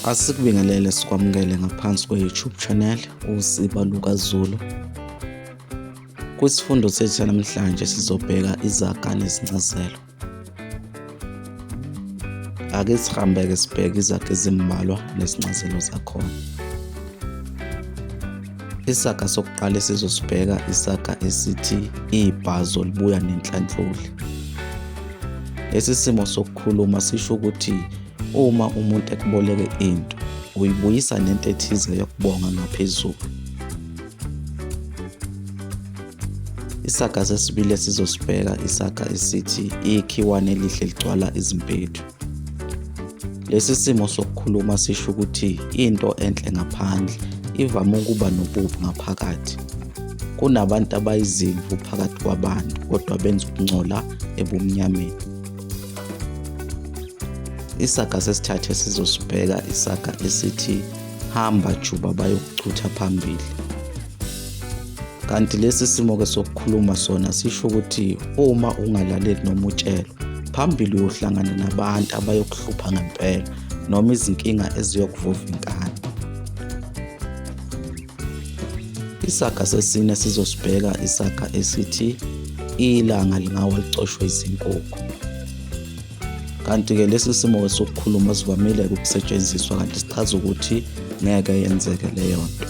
Asikubingelele sikwamukele ngaphansi kwe-YouTube channel uSiba Luka Zulu. Kwisifundo sethu sanamhlanje sizobheka izaga nezincazelo. Ake sihambeke sibheke izaga ezimbalwa nezincazelo zakhona. Isaga sokuqala esizosibheka isaga esithi ibhazo libuya nenhlanhloli. Lesi simo sokukhuluma sisho ukuthi Uma umuntu ekuboleke into, uyibuyisa nento ethize yokubonga ngaphezulu. Isaga sesibili esizosibheka isaga esithi ikhiwane elihle ligcwala izimpethu. Lesi simo sokukhuluma sisho ukuthi into enhle ngaphandle ivame ukuba nobubi ngaphakathi. Kunabantu abayizimvu phakathi kwabantu kodwa benza ukungcola ebumnyameni. isaga sesithathu esizosibheka isaga esithi hamba juba bayokuchutha phambili kanti lesi simo ke sokukhuluma sona sisho ukuthi uma ungalaleli noma utshelwa phambili uyohlangana nabantu abayokuhlupha ngempela noma izinkinga eziyokuvuva inkani Isaga sesine sizosibheka isaga esithi ilanga lingawa licoshwe izinkukhu. Kanti-ke lesi simo sokukhuluma sivamile ukusetshenziswa kanti sichaza ukuthi ngeke yenzeke leyo nto.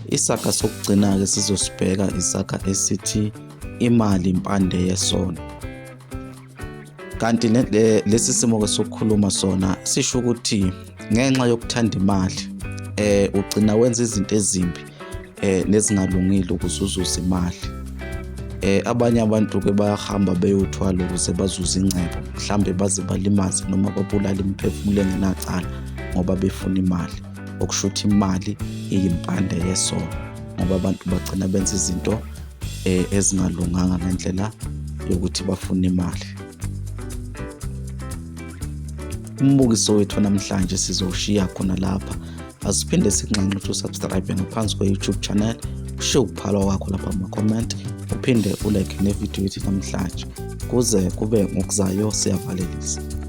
Isaga sokugcina-ke sizosibheka isaga esithi imali impande yesono. kanti lesi simo ke sokukhuluma sona sisho ukuthi ngenxa yokuthanda imali eh ugcina wenza izinto ezimbi eh nezingalungile ukuze uzuze imali eh abanye abantu ke bayahamba beyothwala ukuze bazuze ingcebo mhlambe baze balimaze noma babulale imiphefumulo engenacala ngoba befuna imali okushuthi imali iyimpande yesono ngoba abantu bagcina benza izinto eh, ezingalunganga ngendlela yokuthi bafune imali umbukiso wethu namhlanje sizowushiya khona lapha asiphinde sinxanxe ukuthi usubscribe ngaphansi kwe-youtube channel ushiye ukuphalwa kwakho lapha kuma-comment uphinde ulike nevidiyo yethu namhlanje kuze kube ngokuzayo siyavalelisa